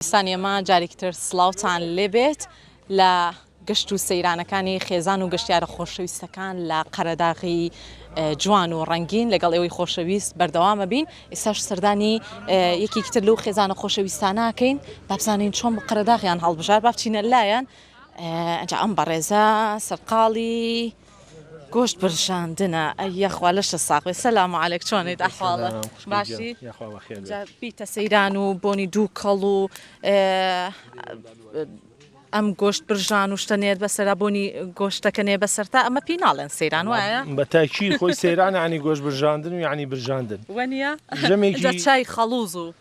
سانیەما جارێکی تر سڵاوتان لێبێت لە گەشت و سەیرانەکانی خێزان و گەشتیارە خۆشەویستەکان لە قەرەداغی جوان و ڕەنگین لەگەڵ ئێوەی خۆشەویست بەردەوامە بین ئێستاش سەردانی یەکێکی تر لەو خێزانە خۆشەویستانەکەین بابزانین چۆن بە قەرەداغیان هەڵبژار بابچینە لایەن ئەجا ئەم بەڕێزە سەرقاڵی گۆشت برژاندنە ئەی یەخوا لەشە ساغ بێ سەلام و عەلێک چۆنیت ئەحواڵە باشی جا بیتە سەیران و بۆنی دووکەڵ و ئەم گۆشت برژان و شتە نێر بەسەرا بۆنی گۆشتەکە نێ بەسەر تا ئەمە پێی ناڵێن سەیران وایە بە تاکی خۆی سەیران عنی گۆشت برژاندن و عنی برژاندن وەنیە جەمێکی چای خەڵوز و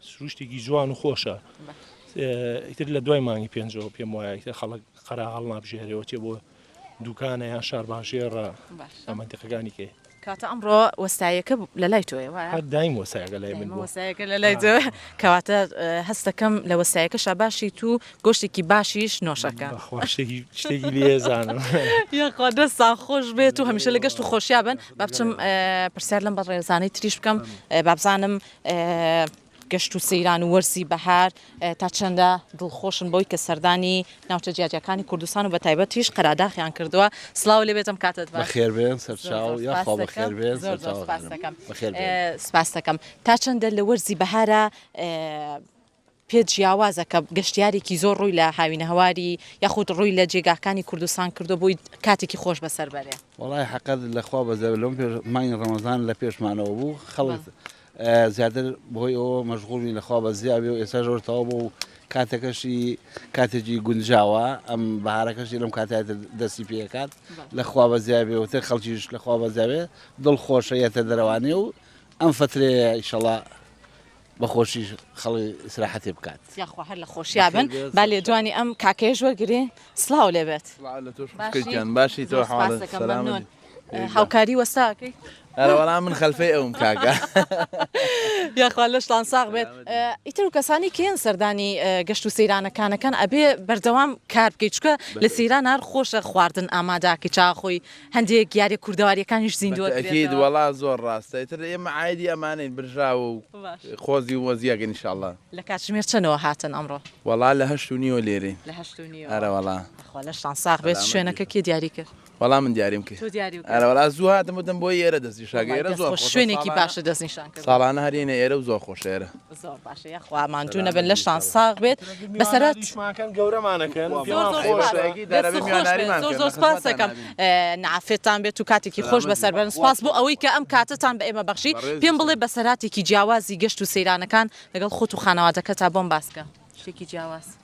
سروشتێکی جوان و خۆشە ئیتر لە دوای مانگی پێنجەوە پێم وایە ئیتر خەڵک قەرا هەڵنابژێرەوە چێ بۆ دوکانە یان شارباژێڕە باشە ئەمە دقەکانی کێ کاتە ئەمڕۆ وەستایەکە بوو لە لای تۆیە وایە هەر دایم وەسایەکە لای من بووە وەسایەکە لە لای تۆ کەواتە ئە، هەستەکەم لە وەسایەکەشا باشی تو گۆشتێکی باشیش نۆشەکە بەخوا شتێکی شتێکی لێزانم یاخوا دەستان خۆش بێت و هەمیشە لە گەشت و خۆشیا بن با بچم ئە، پرسیار لەم بەڕێزانەی تریش بکەم ئە، با بزانم گەشت و سەیران و وەرزی بەهار تا چەندە دڵخۆشن بەوەی کە سەردانی ناوچە جیاجیاکانی کوردستان و بە تایبەتیش قەراداخیان کردووە؟ سڵاو لێ بێتم کاتت باش. بەخێر بێن سەرچاو یاخوا بەخێر بێن سەرچاو خانم بەخێر بێن. سپاس دەکەم تا چەندە لە وەرزی بەهارا؟ پێ جیاوازە کە گەشتیارێکی زۆر ڕووی لە هاوینەهەواری یاخود ڕووی لە جێگاکانی کوردستان کردووە بۆی کاتێکی خۆش بەسەر بەرێ. وەڵاهی حەقە لە خوا بەزەوە لەم پێش مانگی ڕەمەزان لە پێشمانەوە بوو خەڵک زیاتر بەهۆی ئەوە مەشغوڵ بووین لە خوا بەزیا بێ و ئێستا زۆر تەواو بوو و کاتەکەشی کاتێکی گونجاوە ئەم بەهارەکەشی لەم کاتە دەستی پێکات لە خوا بەزیا بێ وتر خەڵکیش لە خوا بەزیاوێ دڵ خۆشە یەتە دەرەوانێ و ئەم فترەیە ئیشەڵا بە خۆشی خەڵی ئیسراحەتێ بکات. یاخوا هەر لە خۆشیا بن. با لێدوانی ئەم کاکەیەش وەرگرین. سڵاو لێ بێت. سڵاو لە تۆش خوشکە گیان. باشی تۆ حاڵت سەلامەت؟ سپاس دەکەم مەمنون. هاوکاری وەستا ئەکەی؟ ئەرە وەڵا من خەلفەی ئەوم کاکە. یاخوا لەشتان ساغ بێت. ئیتر کەسانی کێن سەردانی گەشت و سەیرانە کانەکان ئەبێ بەردەوام کار بکەی چونکە لە سەیران هەر خۆشە خواردن ئامادە ئەکەی چا ئەخۆی هەندێک یاریە کوردەواریەکانیش زیندوە بە تەئکید وەڵا زۆر ڕاستە ئیتر ئێمە عایدی ئەمانەین برژاوە و خۆزی و وەزی ئەگەن ئیشاڵا. لە کاتژمێر چەنەوە هاتن ئەمڕۆ؟ وەڵا لە هەشت و نیوە لێرەین. لە هەشت و نیوە. ئەرە وەڵا. خوا لەشتان ساغ بێت شوێنەکە کێ دیاری کرد؟ وەڵا من دیاریم کرد. تۆ دیاری کرد. ئەرە وەڵا زوو هاتم وتم بۆی ئێرە دەست نیشان کە ئێرە زۆر خۆشە ساڵانە. شوێنێکی باشە دەست نیشان کردن. ساڵانە هەر یەینە ئێرە و زۆر خۆشە ئێرە. زۆر باشە یاخوا ماندوو نەبن لەشتان ساغ بێت بەسەرات شماکەن گەورەمانەکەن زۆر سپاسەکەم نعافێتان بێت و کاتێکی خۆش بەسەر بەرن سپاس بۆ ئەوەی کە ئەم کاتتان بە ئێمە بەخشی پێم بڵێ بەسەراتێکی جیاوازی گەشت و سەیرانەکان لەگەڵ خۆت و خانەوادەکە تا بۆم باسکە شتێکی جیاواز.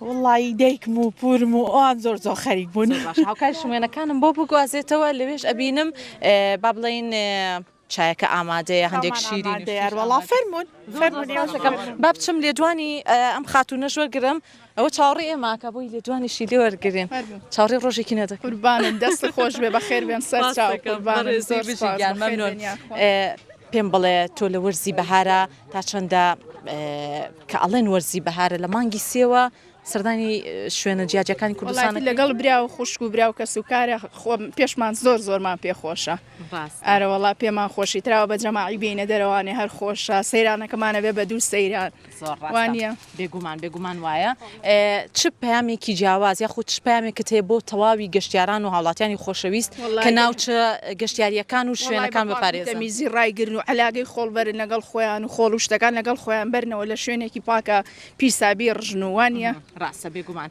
وەڵڵایی دایکم و پوورم و ئەوان زۆر زۆر خەریک بوون. زۆر باشە هاوکاریشم وێنەکانم بۆ بگوازێتەوە لەوێش ئەبینم با بڵێین چایەکە ئامادەیە هەندێک شیرینی و شتیش ئامادەیە. وەڵا فەرموون فەرموون ئێوەش بۆ ئێمە. با بچم لێدوانی ئەم خاتوونەش وەرگرم ئەوە چاوەڕێی ئێماکە بۆی لێدوانیشی لێ وەرگرین چاوەڕێی ڕۆژێکی نەدەکەین. قوربانت دەستت خۆش بێ بەخێر بێن سەرچاو قوربانت زۆر سوپاس بەخێر بێن یاخوا. پێم بڵێ تۆ لە وەرزی بەهارا تا چەندە کە ئەڵێن وەرزی بەهارە لە مانگی سێوە سەردانی شوێنە جیاجەکانی کوردستان لەگەڵ برا و خوشک و برا و کەس و کارە خۆم پێشمان زۆر زۆرمان پێخۆشە ئارەوەڵا پێمان خۆشی تراوە بە جەماعی بینە دەرەوانێ هەر خۆشە سەیرانەکەمانە بێ بە دوو سەیران وانە بێگومان بێگومان وایە چ پەیامێکی جیاواز یاخود چ پامێکت هەیە بۆ تەواوی گەشتیاران و هاوڵاتیانی خۆشەویست کە ناوچە گەشتیاریەکان و شوێنەکان بپارێزە میزی ڕایگرن و علاگەی خۆڵبەرن لەگەڵ خۆیان و خۆڵوشتەکان لەگەڵ خۆیان بەرنەوە لە شوێنێکی پاکە پیسابی ڕژنووانە ڕاستە بێگومان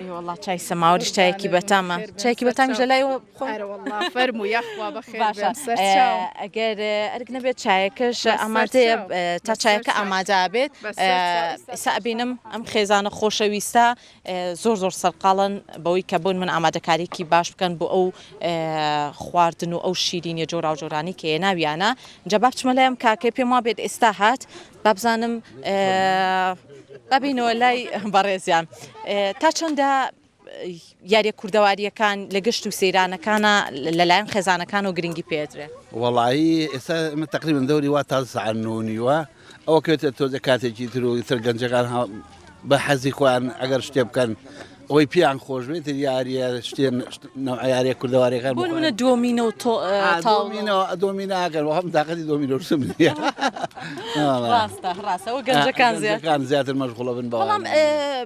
ئێ وەڵا چای سەماوەریش چایەکی بەتامە چایەکی بەتامیش لە لای خۆ فەرمو یاخوا بەخێر ئەگەر ئەرک نەبێت چایەکەش ئامادەیە تا چایەکە ئامادا بێت سابینم ئەم خێزانە خۆشەویستە زۆر زۆر سەرقاڵن بەوەی کە بۆن من ئامادەکاریکی باش بکەن بۆ ئەو خواردن و ئەو شیرینە جۆراوجۆرانی کە ناویانە جەباب چمە لەم کاکە پێم وابێت ئێستا هات بابزانم با بینەوە لای بەڕێزیان تا چەندە یاریە کوردەواریەکان لە گەشت و سەیرانەکانە لەلایەن خێزانەکان و گرنگی پێدرێ وەڵایی ئێستا من تقریبن دەوری وا تا سعن و نیوە ئەوە کێتە تۆزە کاتێکی تر و تر گەنجەکان بە حەزی خۆیان ئەگەر شتێ بکەن ئەوەی پێیان خۆش بێت یاریە شتێن یاریە کوردەوارەکان بۆ منە دۆمینە و تۆ تاڵمینەوە دۆمیناگەر وە هەم داقەتی دۆمینۆسم ڕاستە ڕاستەوە گەنجەکان زیاتەکان زیاتر مەشغڵە بن بەڵام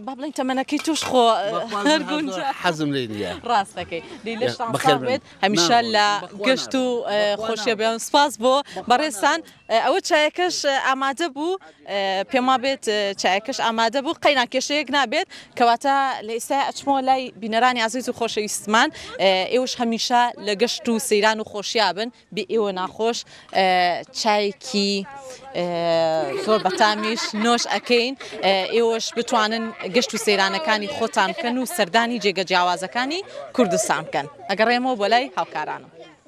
با بڵین تەمەەکەی توش خۆ حەزم لێ نیە ڕاستەکەی بخێت هەمیشە لە گەشت و خۆشیە بێن سپاس بۆ بەڕێستان ئەوە چایەکەش ئامادە بوو. پێم وابێت چایەکەش ئامادە بوو. قەینا کێشەیەک نابێت. کەواتە لە ئێستایا ئەچمەوە لای بینەرانی ئازیز و خۆشەویستمان. ئێوەش هەمیشە لە گەشت و سەیران و خۆشیا بن. بێ ئێوە ناخۆش. چایەکی زۆر بەتامیش نۆش ئەکەین. ئێوەش بتوانن گەشت و سەیرانەکانی خۆتان بکەن و سەردانی جێگە جیاوازەکانی کوردستان بکەن. ئەگەڕێمەوە بۆ لای هاوکارانم.